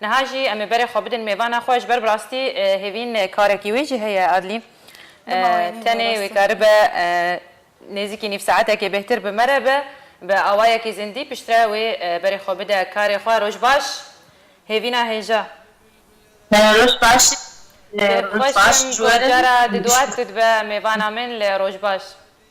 Niha jî em ê berê xwe bidin mêvana xwe ji ber bi rastî hêvîn karekî wê jî heye Adlî. Tenê wê karibe nêzîkî nîv saetekê bêhtir bi me re be, bi awayekî zindî piştre wê berê xwe bide karê xwe. Roj baş hêvîna hêja. Roj baş. Dêv xweş im ku cara di dua tu dibe mêvana min li Rojbaş.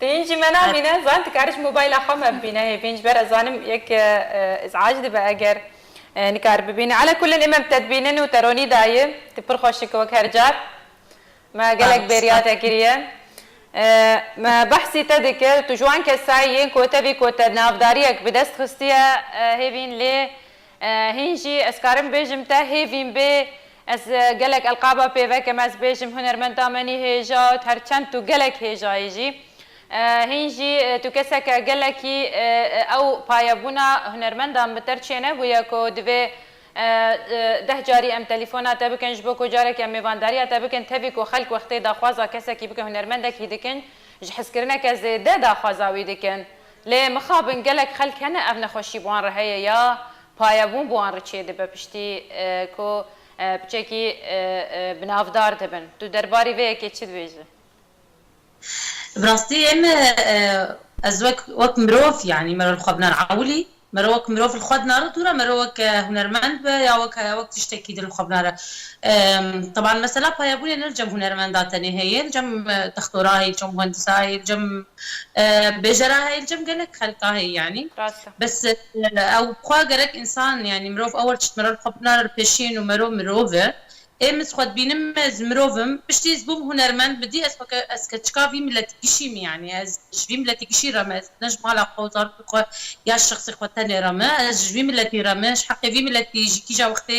Hîn jî me namîne, zanîn tu karî ji mobayla xwe me bibîne hê vê jiber ez zanim yek îz'ac dibe eger nikari bibîne. Ala kulin ême bi te dibînin û te ronî dayî, tu pir xweş î ku wek her car. Me gelek bêriya te kiriye. Me behsî te dikir, tu ji wan kesayî yîn ku te vî ku te navdariyek bi dest xistiye hêvîn lê Hîn jî ez karim bêjim te hêvîn bê. Ez gelek elqaba pê vekim ez bêjim hunermenda menî hêja û her çend tu gelek hêjayî jî. Hîn jî tu keseke gelekî ew payebûna hunermendan bi ter çê nebûye ku divê deh carî em telîfona te bikin ji bo ku carekî em mêvandariya te bikin tevî ku xelk wextê daxwaza kesekî bikin hunermendekî dikin ji hizkirineke zêde daxwaza wî dikin Lê mixabin gelek xelk hene ev nexweşî bi wan re heye ya payebûn bi wan re çêdibe piştî ku bi çekî bi navdar dibin. Tu derbarî vê yekê çi dibêjî? Bi rastî em ez wek wek mirov yanî me re li xwe binan ewilî me re wek mirov li xwe dina re tûra me re wek hunermend be ya wek ya wek tiştekî din li xwe bina re teban mesela payebûnê ne li cem hunermenda tenê heye li cem textorayê li cem muhendisayê li cem Bêjera heyî li cem gelek xelka heye yanî. Rast e. Bes ew xwe gerek însan yanî mirov ewil çit mirov li xwe binare li pêşîn û merov mirov e. Ê min ji xwe dibînim ez mirov im. Piştî ez bûm hunermend bi dî ez xwe ke ez ke çika vî miletî kişî me yanî ez ji vî miletî kişî re me ez ne ji mala xwe û zarokê xwe ya şexsê xwe tenê re me ez ji vî miletî re me ji heqê vî miletî ji kîja wextê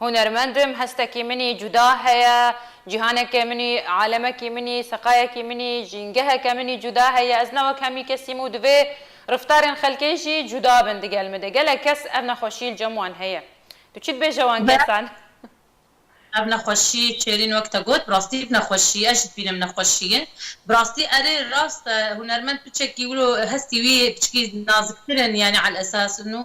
Hunermend im, hestekî min î cuda heye, cîhaneke min î, alemekî min î, seqayekî min î, jîngeheke min î cuda heye, ez ne wek hemî kes im û divê riftarên xelkê jî cuda bin digel min de. Gelek kes ev nexweşî li cem wan heye. Tu çi dibêje wan kesan? Ev nexweşî Çêrîn wek te got, bi rastî ev nexweşî ye, ez jî dibînim nexweşî ye. Bi rastî erê rast e, hunermend piçekî wilo hestî wî piçikî naziktir in yanî alesas û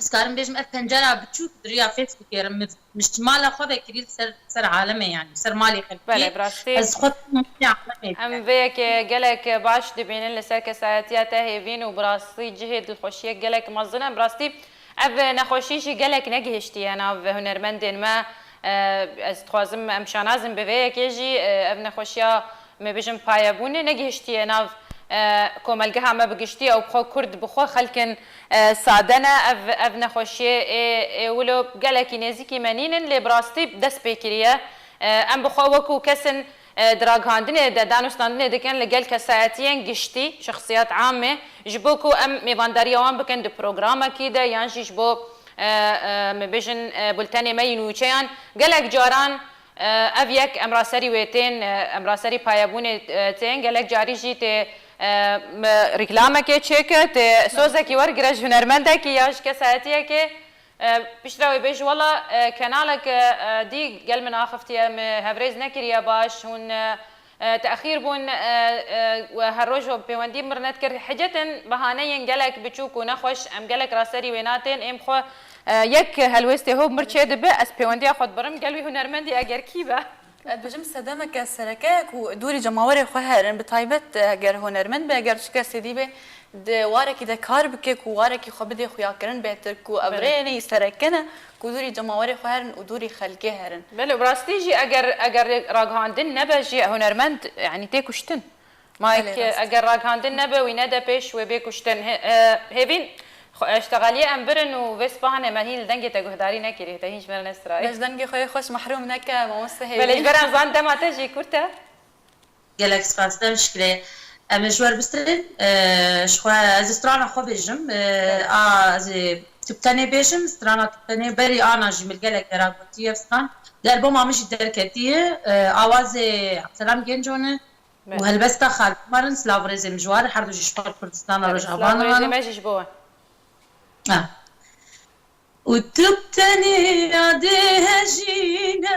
Ez karim bêjim ev pencera biçûk di riya Facebookê re min mala xwe vekirî li ser ser alemê yanî ser malê xelkê Belê bi rastî ez xwe alemê em vê yekê gelek baş dibînin li ser kesayetiya te hêvîn û bi rastî cihê dilxweşiyek gelek mezin e bi rastî ev nexweşî jî gelek negihiştiye nav hunermendên me ez dixwazim em şanazin bi vê yekê jî ev nexweşiya Me bijim payebûnê negihiştiye nav komelgeha me bi giştî ew bi xwe kurd bi xwe xelkin sade ne ev ev nexweşiyê ê ê wilo gelekî nêzîkî me nîn in lê bi rastî dest pê kiriye em bi xwe wekû kesin di ragihandinê de danûstandinê dikin li gel kesayetiyên giştî şexsiyat amê ji bo ku em mêvandariya wan bikin di programekî de yan jî ji bo me bijin bultenê me yî nûçeyan gelek caran Ev yek em ra serî wê tên, em ra serî payebûnê tên, gelek carî jî tê rîklamekê çêke, tê sozekî wergire ji hunermendekî ya ji kesayetiyekê, piştre wê bêje wela kenalek dî gel min axiftiye, min hevrêz nekiriye baş, hûn Texîr bûn û her roj we bi pêwendî mirnet kir. Hicetin behaneyên gelek biçûk û nexweş, em gelek raserî wê natên, êm xwe. Yek helwêstê hov mir çê dibe, ez pêwendiya xwe dibirim, gel wî hunermendî eger kî be. Ez dibêjim sedemeke sereke ye ku dûrî cemawerê xwe herin, bi taybet eger hunermend be, eger çi kesê dî be di warekî de kar bike ku warekî xwe bidê xuyakirin bêtir ku ev rê neyê sereke ne Ku dûrî cemawerê xwe herin û dûrî xelkê herin. Belê bi rastî jî eger eger ragihandin nebe jî hunermend yanî tê kuştin. Ma eger ragihandin nebe wî nede pêş wê bê kuştin. Hêvîn eştegaliyê em birin û vê sipahan em hîn li dengê te guhdarî nekirî te hîn ji me re nestirayî. Bes dengê xwe yê xweş mehrûm neke mamoste Hêvîn. Belê ji ber em zan dema te jî kurt e. Gelek spas dem şikirê em ê ji wer bistrên ji xwe ez strana xwe bêjim a ez ê tubtenê bêjim strana tubtenê berî ana jî min gelek vera gotî ev stran der boma min jî derketî ye awazê Abdselam Genco ne û helbesta Xalid Omar in silav rêzê min ji wan re herdu jî ji xwe re Kurdistan a Rojava ne ne ne û tubtenê ya dê hejî ne.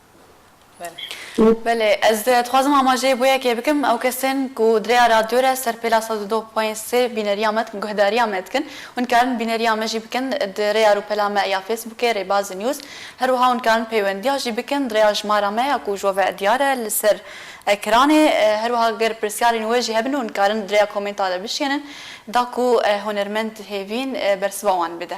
Belê ez dixwazim amajeyê bo yekê bikim ew kesên ku di rêya radyo re ser pêla sed û du poyên sê bîneriya me dikin guhdariya me dikin hûn dikarin bîneriya me jî bikin di rêya rûpela me ya fêsbûkê Rêbaz News her wiha hûn dikarin peywendiya jî bikin di rêya jimara me ya ku ji we ve diyar e li ser ekranê her wiha ger pirsyarên we jî hebin hûn dikarin di rêya komênta de bişkênin da ku hunermend hêvîn bersiva wan bide.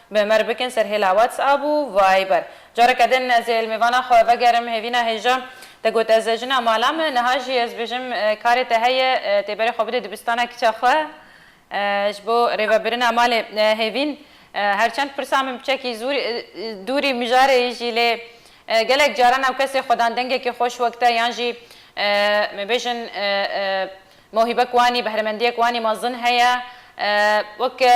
Bi me re bikin serhêla WhatsApp û Viber. Careke din ez ê li mêvana xwe vegerim hêvîna hêja. Te got ez jina mala me, niha jî ez bêjim karê te heye tê berê xwe bidê dibistana kiça xwe ji bo rêvebirina malê hêvîn. Her çend pirsa min piçekî zûr dûrî mijarê jî lê gelek caran ew kesê xwedan dengekî xweş wek te yan jî me bêjin Mewhîbek wanî, behremendiyek wanî mezin heye. Weke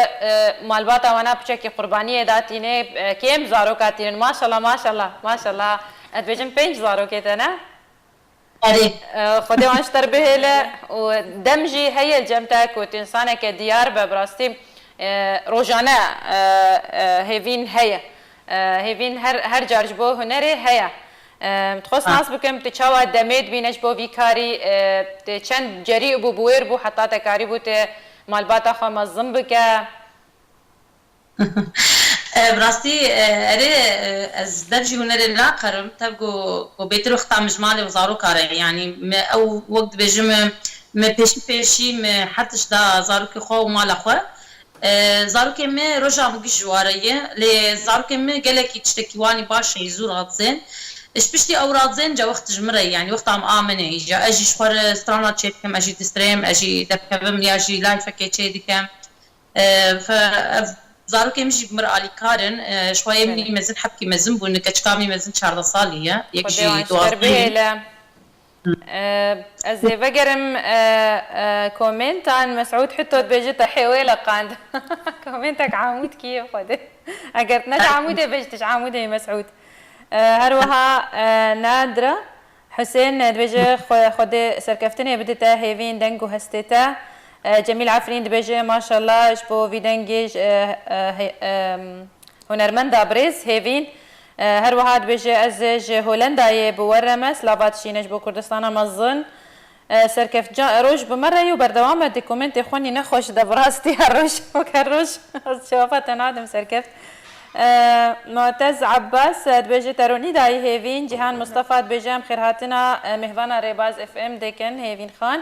malbata wana piçekî qurbaniyê da tîne. Kêm zaroka tînin. Maşallah maşallah maşallah. Ez dibêjim pênc zarokê tene. Erê. Xwedê wan ji te re bihêle û dem jî heye li cem te ku tu însaneke diyar be. Bi rastî rojane hêvîn heye. Hêvîn her her car ji bo hunerê heye. Dixwest nas bikim tu çawa demê dibîne ji bo vî karî. Tu çend cerî û bû bi wêr bû heta te karîbû tu malbata xwe mezin bike? Bi rastî erê ez dev jî hunerê naqerim. Tev ku bêtir wexta min ji malê û zaroka re yanî min ew wek dibêjim min pêşî pêşî min her tişt da zarokê xwe û mala xwe. Zarokê me roja bi giş ji wa re ye, lê zarokê me gelekî tiştekî wanî baş e, zû radizên. Ji piştî ew radizên cewext ji min re ye, yanî wexta em a min e îja. Ez jî ji xwe re strana çê dikim, ez jî distrêm, ez jî derkevim ya jî lifekê çê dikim. Ev zarokê min jî bi mir alîkar in. Ji xwe yê min î mezin hebkî mezin bûn, li keçika min î mezin çardeh salî ye, yek jî duwazdeh ye. Ez ê vegerim komenta Mesûd Hito dibêje te hêwê leqand. Komentek Amûdkî yê Xwedê. Eger tu neji Amûdê be ji tu ji Amûdê yî Mesûd. Her wiha Nadira Husên dibêje Xwedê serkeftinê bide te hêvîn deng û hestê te. Cemîl Efrîn dibêje Maşalla ji bo vî dengê hunermenda birêz hêvîn. Her wiha dibêje, Ez ji Holendayê bi we re me, slava dişîne ji bo Kurdistana mezin. Serkeft ca roj bi me re ye û berdewam e, di komêntê xwe nîne xwe ji de bi rastiya roj wek her roj ez cewaba te nadim serkeft. Mu'tez Abbas dibêje, Te ronî dayî hêvîn. Cîhan Mustafa dibêje, Em xêrhatina mêhvana Rêbaz FM dikin hêvîn xan.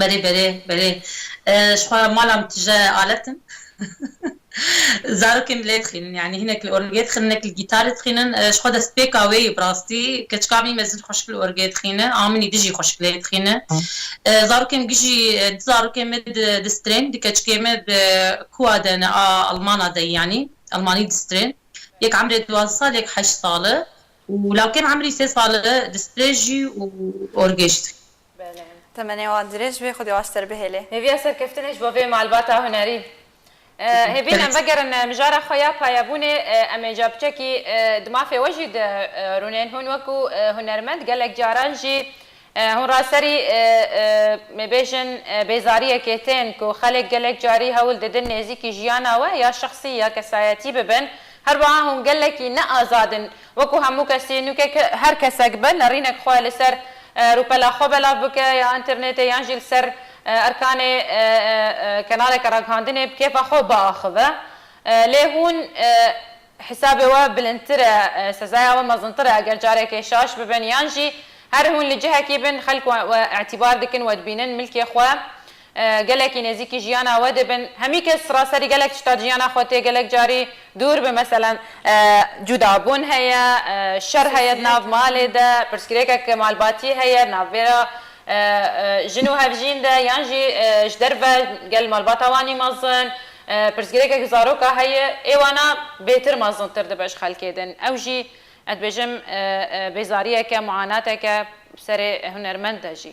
Belê belê belê ji xwe re mala min tije alet in zarokên lê dixînin yanî hinek li orgê dixînin hinek li gîtarê dixînin ji xwe destpêka wê ye bi rastî keç ka min mezin xweşik li orgê dixîne a min î dijî xweşik lê dixîne zarokên bijî du zarokên min distrên du keçikê min bi kuwa de ne a almana de yanî almanî distrên yek emrê duwazdeh sal yek heşt sal e û lawkê min emrî sê sal e distrê jî û orgê jî Temenê wan dirêj bê, Xwedî aş te li bihêlê. Hêviya serkeftinê ji bo vê malbata hunerî. Hêvî em vegerin mijara xwe ya payebûnê, em ê capiçekî di mafê we jî de rûnên. Hûn wekû hunermend gelek caran jî hûn raserî mêbêjin bêzariyekê tên ku xelek gelek carî hewl didin nêzîkî jiyana we ya şexsî ya kesayetî bibin. Herwiha hûn gelekî ne azad in. Wekû hemû kesî nûke ke her kesek be nerînek xwe li ser rûpela xwe belav bike ya înternetê yan jî li ser erkanê kenaleke ragihandinê bi kêfa xwe biaxive. Lê hûn hesabê we bilindtir e, sezaya we mezintir e eger carekê şaş bibin yan jî her hûn li cihekî bin xelk we îtîbar dikin we dibînin milkê xwe gelekî nêzîkî jiyana we dibin, hemî kes siraserî gelek tişta jiyana xwe tê gelek carî dûr bi meselen cudabûn heye, şer heye di nav malê de, pirsgirêkek malbatî heye di navbera jin û hevjîn de yan jî ji derve gel malbata wan î mezin, pirsgirêkek ji zaroka heye ê wana bêtir mezintir dibe ji xelkê din ew jî ez dibêjim bêzariyeke, muanateke bi serê hunermend de jî.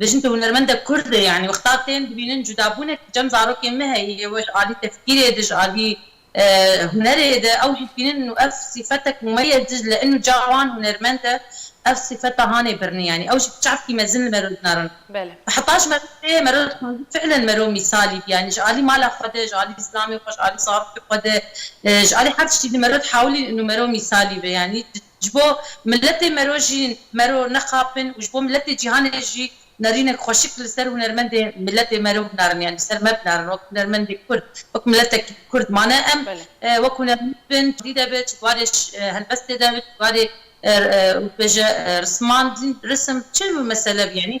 Dijin tu hunermendek kurd î yanî wexta tên dibînin cudabûnek tu çend zarokên me heyî yê we ji alî tefkîrê di ji alî hunerê de ew jî dibînin û ev sîfetek me ye Dicle in û ca wan hunermend e ev sîfeta hanê birnî yanî ew jî çavkî mezin li mero dinarin bi heta ji mero tê mero dixwazî fiilen mero mîsalî bî yanî ji alî mala xwe de ji alî zilamê xwe ji alî zarokê xwe de ji alî her tiştî di mero dihewilîn in û mero mîsalî be yanî Ji bo miletê mero jî mero nexapin û ji bo miletê cîhanê jî nerînek xweşik li ser hunermendê miletê mero binarin yanî li ser me binarin wek hunermendê kurd wek miletekî kurd mane em wek hunermend bin dî de bi ji barê helbestê de bi ji barê û bêje rismandin risim çi mesele bi yanî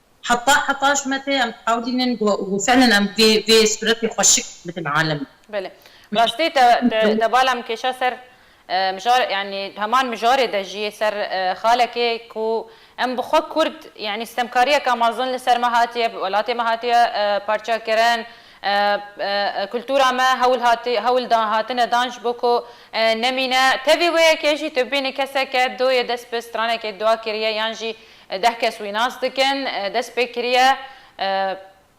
Heta heta ji me tê em dihewlînin ku ku felin em vê vê sûretê xwe şik bidin alemê. Belê. Bi rastî te te te bala min kêşa ser mijar yanî heman mijarê de jî ser xalekê ku em bi xwe kurd yanî stemkariyeke mezin li ser me hatiye bi welatê me hatiye parça kirin kultura me hewl hatiye hewl da hatine dan ji bo ku nemîne. Tevî wê yekê jî tu bibînî keseke doyê dest bi stranekê dua kiriye yan jî Deh kes wî nas dikin. Dest pê kiriye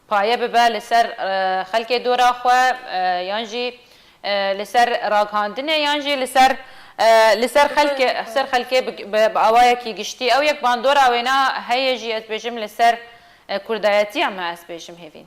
paye bibe li ser xelkê dora xwe yan jî li ser raghandinê yan jî li ser li ser xelkê ser xelkê bi awayekî giştî. Ew yek bandora wêna heye jî ez dibêjim li ser kurdayetiya me ez dibêjim hêvîn.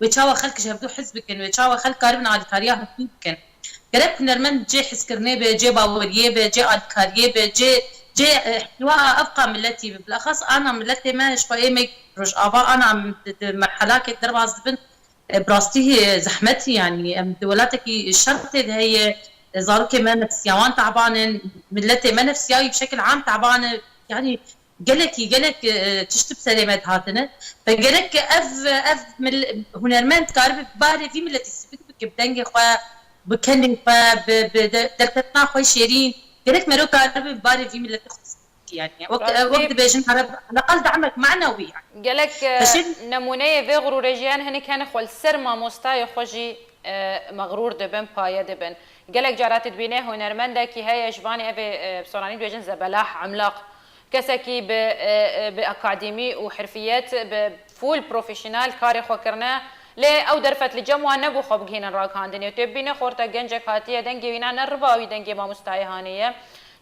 wê çawa xelk ji hev du hez bikin, wê çawa xelk karibin alîkariya hev du bikin. Gerek hunermend cê hizkirinê be, cê baweriyê be, cê alîkariyê be, cê cê îhtiwa a evqa miletî be. Bilaxas ana miletê me ji xwe ê me Rojava ana em di di merhelakê de derbas dibin bi rastî zehmet e yanî em di welatekî şertê de heye zarokên me nefsiyawan te'ban in, miletê me nefsiyayî bi şekil am te'ban e yanî Gelekî gelek tişt bi serê me dihatine. Te gerek ki ev ev hunermend dikaribe bi barê vî miletî sivik bike, bi dengê xwe, bi kelê xwe, bi bi derketina xwe şêrîn. Gerek mero karibe bi barê vî miletê xwe sivik bike yanî. Wek wek dibêjin ereb heleqal demek mana wî ye. Gelek nemûneyê vê xurûrê jî hene. Hinek hene xwe li ser mamostaye xwe jî mexrûr dibin, paye dibin. Gelek caran tu dibînî hunermendekî heye ji vanê ev ê bi soranî dibêjin zebelah, emlaq. Kesekî bi bi akadîmî û hirfiyet bi full profîşînal karê xwe kirine lê ew derfet li cem wan nebû xwe bigihînin ragihandinê. Tu ê bibînî xwe rte gencek hatiye dengê wî na ne riva wî dengê mamostayê hanê ye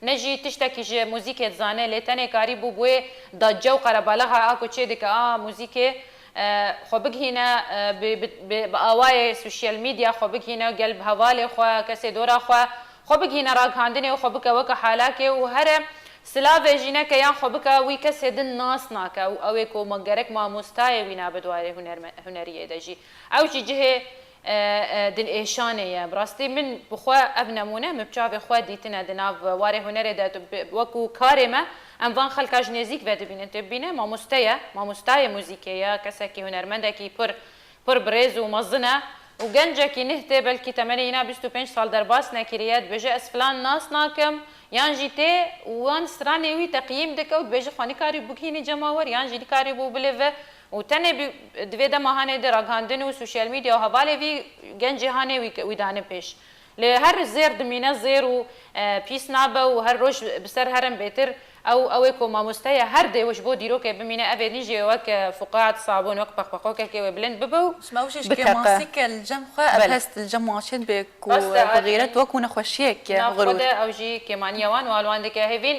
ne jî tiştekî ji muzîkê dizane lê tenê karî bû bi wê da cew qerebalaha a ku çê dike a muzîkê xwe bigihîne bi awayê sosyal medya xwe bigihîne gel bi hevalê xwe kesê dora xwe xwe bigihîne ragihandinê û xwe bike weke halakê û here silave jî neke yan xwe bike wî kesê din nas nake û ewê ku gerek mamostayê wî nabe di warê huneriyê de jî ew jî cihê Dilêşanê ye. Bi rastî min bi xwe ev nemûne min bi çavê xwe dîtine di nav warê hunerê de wekû karê me em van xelka ji nêzîk ve dibînin. Tu bibîne mamoste ye, mamostayê muzîkê ye, kesekî hunermendekî pir pir bi rêz û mezin e û gencekî nih tê belkî temenê îna bîst û pênc sal derbas nekiriye dibêje ez filan nas nakim yan jî tê wan stranê wî teqîm dike û dibêje xwe nikarîbû bigihînî cema wer yan jî nikarîbû bilive Û tenê bi di vê dema hanê di ragihandin û sosyal medya û hevalê vî gencê hanê wî wî dane pêş. Lê her zêr dimîne zêr û pîs nabe û her roj bi ser herin bêtir. Ew ew ê ku mamosteye her dêw ji bo dîrokê bimîne ev ê nîjê wek Fuqead Sabûn wek peqpeqokekê wê bilind bibe û Ji mewjê ji kêma biteqe. sîk e li cem xwe ev Belê. hest li cem wan çêd bê ku Rast e bi Adî. xîret wekû nexweşiyek ye, Nav xwe xirûr. de ew jî kêmaniya wan û alwan dike hêvîn.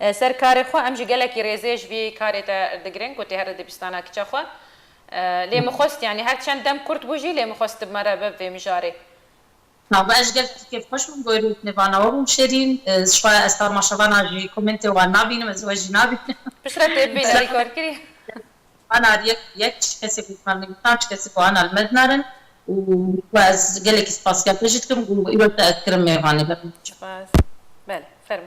Ser karê xwe em jî gelekî rêzê ji vî karê te digirin ku tê her di dibistana kiça xwe. Lê min xwest yanî her çend dem kurt bû jî lê min xwest tu bi me re bib vê mijarê. Navbe ez ji gelek tu kêfxweş bûm gorî tu vana we bûm şêrîn. Zixwe ez tarma şevana jî komêntê wan nabînim ez we jî nabînim. Piştre tê bibîne rîkord kirî. Ana li yek yek çi kesê ku hikman min gutan çi kesê ku ana li me dinarin û we ez gelekî spasiya te jî dikim û îro te ez kirim mêvanê ber min biçe. Spas. Belê. Fermo.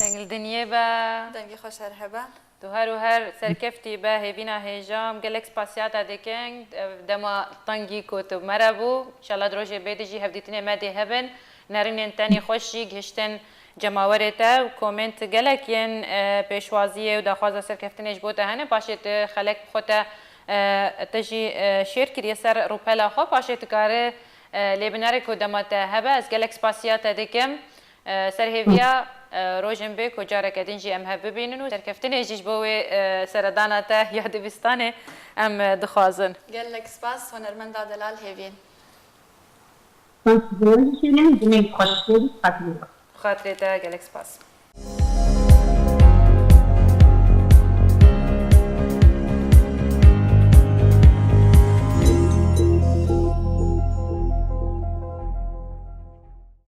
Dengil dinyê be. Dengê xwe şer hebe. Tu her û her serkeftî be hêvîna hêja em gelek spasiyata dikin ev dema tengî ku tu me re bû înşallah di rojê bê de jî hevdîtinê me dê hebin nerinên tenê xweş jî gihiştin cemawerê te û komênt gelek yên pêşwaziyê û daxwaza serkeftinê ji bo te hene paşê tu xelek bi xwe te te jî şêr kiriye ser rûpela xwe paşê tu kari lê binere ku dema te hebe ez gelek spasiyate dikim Serhêviya rojên bê ku careke din jî em hev bibînin û serkeftinê jî ji bo wê seredana te ya dibistanê em dixwazin. Gelek spas Hunermenda Delal Hêvîn. Spas ji wan dikêrim, dilê xweş bê bi xatirê wan. Bi xatirê te gelek spas.